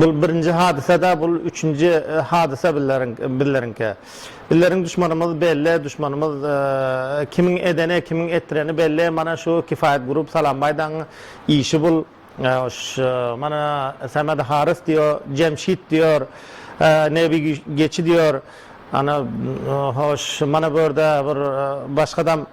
Bul birinji hadysada bul üçünji hadysa bizleriňki. Bizleriň duşmanymyz belli duşmanymyz kimiň edeni kimiň etdireni belli mana şu kifayet grup salambaýdaň işi bul mana samed harys diýo jemşit diýor nebi geçi diýor ana hoş mana bu ýerde bir başgadam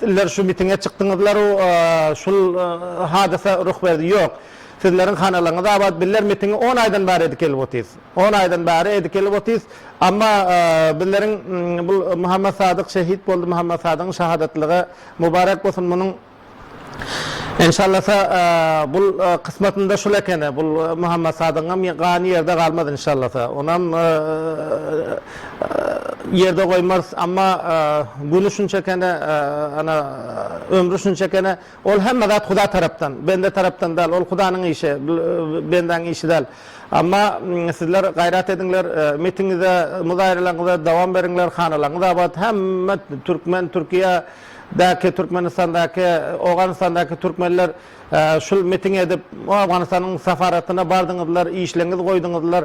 Sizler şu mitinge çykdyňyzlaru şul hadysa ruh berdi ýok sizleriň hanalaryňyz abat bizler mitingi on aýdan bäri edip gelip otyrys on aýdan bäri edip gelip otyrys amma bizleriň bul Muhammet Sadyk şehit boldy Muhammet Sadygyň şahadatlygy mubarek bolsun munuň enşallasa bul kysmatynda şul ekeni bul Muhammet Sadygyňam gany ýerde galmaz enşallasa onam ýerde goýmarys, amma güni şunça ekeni, ana, ömri şunça ekeni, ol hemme zat Huda tarapdan, bende tarapdan däl, ol Hudanyň işi, bendäň işi däl. Amma sizler gaýrat ediňler, mitiňize, muzaýralaňyza dowam beriňler, hanalaryňyz abat, hemme türkmen, Türkiýe däki, Türkmenistandaky, Owganystandaky türkmenler şul miting edip, Owganystanyň safaratyna bardyňyzlar, işleňizi goýduňyzlar.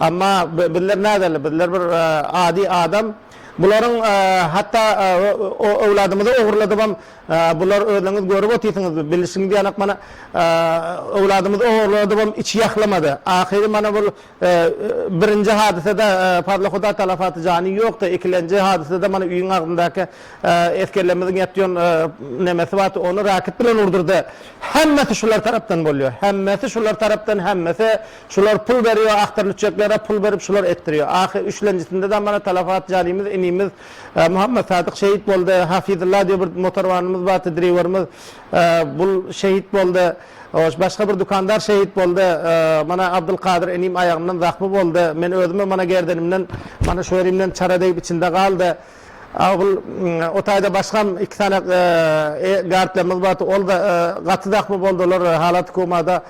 Amma bizler näderli, bizler bir ady adam. Bularyň hatda öwladymyzy ogurladybam, bular özleriňiz görüp otyrsyňyz, bilişiňiz ýanak mana öwladymyzy ogurladybam içi ýahlamady. Ahyry mana bul birinji hadysada Fazlyhuda Talafaty jany ýokdy, ikilenji hadysada mana öýüň agzyndaky esgerlerimiziň ýatýan nemesi bardy, ony raket bilen urdurdy. Hemmesi şular tarapdan bolýar, hemmesi şular tarapdan, hemmesi Şular pul berýo ahtar lüçeklere pul berip şular etdirýo ahy üçlenjisinde de mana talafat janymyz inimiz Muhammet Sadyk şehit boldy Hafizylla diýo bir motorwanymyz bardy driwerimiz bul şehit boldy hoş başga bir dukandar şehit boldy mana Abdylkadyr inim aýagyndan zahmy boldy men özüme mana gerdenimden mana şu ýerimden çara degip içinde galdy. Aul o taýda başgam iki sany e gartlarymyz bardy olda gaty zahmy boldylar halaty komada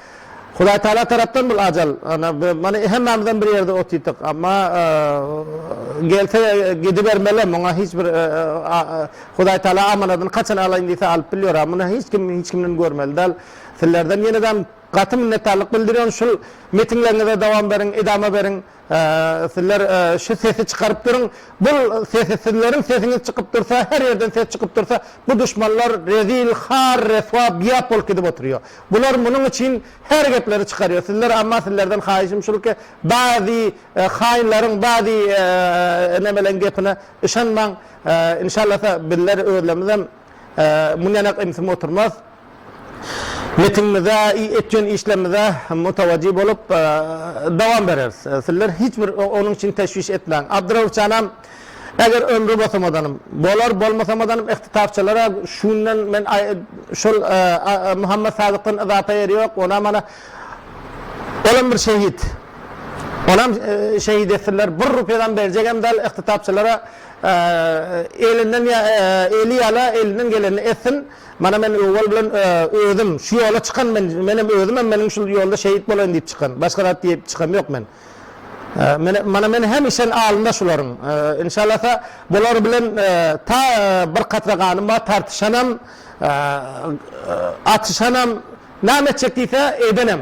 Hudaý Taala tarapdan bul ajal ana mana hemmämizem bir ýerde otydyk amma gelse gidibermeli muňa hiç bir Hudaý Taala amanadyny haçan alaýyn diýse alyp bilýär a muny hiç kim hiç kimden görmeli dal sizlerden ýenedem gaty minnetdarlyk bildirýän şul metinleriňize dowam beriň edama beriň. Sizler şu sesi çykaryp durun bul sesi sizlerin sesiňiz çykyp dursa her yerden ses çykyp dursa bu duşmanlar rezil har reswa biap bolup gidip oturýo bular munuň üçin her gepleri çykarýo sizler amma sizlerden haýyşym şul ki bazi haýynlaryň bazi nemeleň gepine yşanmaň inşallasa bizler özlemizem Mundan ak imsim oturmaz. Metinimize, etýän işlerimize mutawajy bolup, dowam bereris. Sizler hiç bir onuň üçin teşwiş etmäň. Abdyrauff janam, eger ömri bosamadanym, bolar, bolmasamadanym ihtitabçalara şu günden men şol Muhammet Sadykdan yzapa ýeri ýok, onam ana, olam bir şehit. Onam şehit etsinler. Bir rupýadam berjegem däl ihtitabçalara Elinden eli ýala, elinden gelenini etsin. Mana men owal bilen özüm şu ýola çykan men, menem özümem meniň şul ýolda şehit bolaýyn diýip çykan. Başga zat diýip çykam ýok men. Mana men hemişen alnynda şularyň. Inşallasa bular bilen ta bir katra ganym bar, tartyşanam, atyşanam, näme etjek diýse edenem.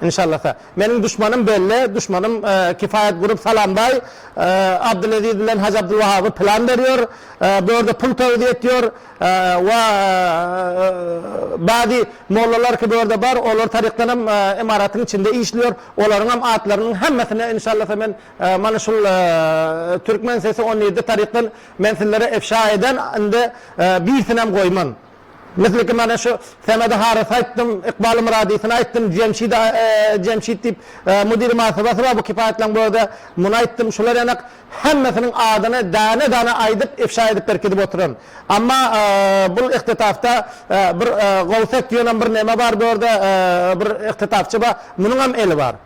Inşallasa. Meniň duşmanym belli, duşmanym Kifayat Group Salambaý Abdyleziz bilen Hajy Abdulwahaby plan berýär. Bu ýerde pul towzy etýär we bady mollalar ki bu ýerde bar, olar tarykdan hem imaratyň içinde işleýär. Olaryň hem atlarynyň hemmesini inşallasa men mana şul Türkmen sesi on ýedi tarykdan men sizlere efşa eden indi birsini hem goýman. Misliki mana şu Samedy Harys aýtdym, Ykbaly Myradysyny aýtdym, Jemşidi Jemşit diýip Müdiri Mahrybasy bar bu kipaýatlaň bu ýerde, muny aýtdym, şular ýanak hemmesiniň adyny däne-däne aýdyp ifşa edip berkidip oturan. Amma bul ihtetapda bir Gowsek diýenem bir neme bar bu ýerde bir ihtetapçy bar, munuňam eli bar.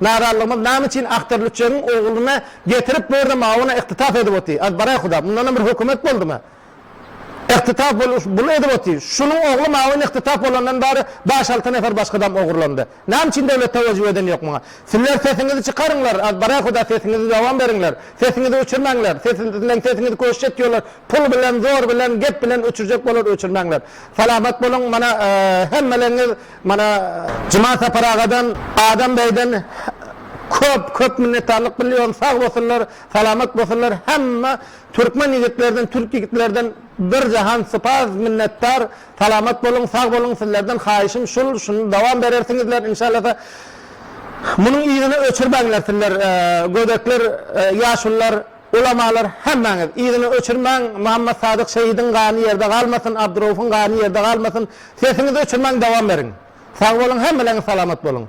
Narazylygymyz name üçin Akterlüçegiň ogluny getirip bu ýerde mawyna ykdytap edip oty. Aýt baraý huda, mundanam bir hökümet boldumy? Ykdytap boluş bul edip oty. Şunuň ogly mawyn ykdytap bolandan bari baş alty nefer başga adam ogurlandy. Name üçin döwlet tewejjüh eden ýok muňa? Sizler sesiňizi çykaryňlar, aýt baraý huda sesiňizi dowam beriňler. Sesiňizi öçürmäňler. Sesiňizden sesiňizi köşje etýorlar. Pul bilen, zor bilen, gep bilen öçürjek bolar öçürmäňler. Salamat boluň, mana hemmeleriňiz Mana Juman Sapar agadan, Adam beýden köp köp minnetdarlyk bilýärin sag bolsunlar, salamat bolsunlar hemme türkmen ýigitlerden, türk ýigitlerden bir jahan sypaz minnetdar salamat boluň, sag boluň sizlerden haýyşym şul şuny dowam berersiňizler inşallasa munuň yzyny öçürmäňler sizler gödekler, ýaşulylar. Ulamalar hemmäňiz yzyny öçürmäň Muhammad Sadyk şehidiň gany ýerde galmasyn Abdyraufuň gany ýerde galmasyn sesiňizi öçürmäň dowam beriň sag boluň hemmelerňiz salamat boluň.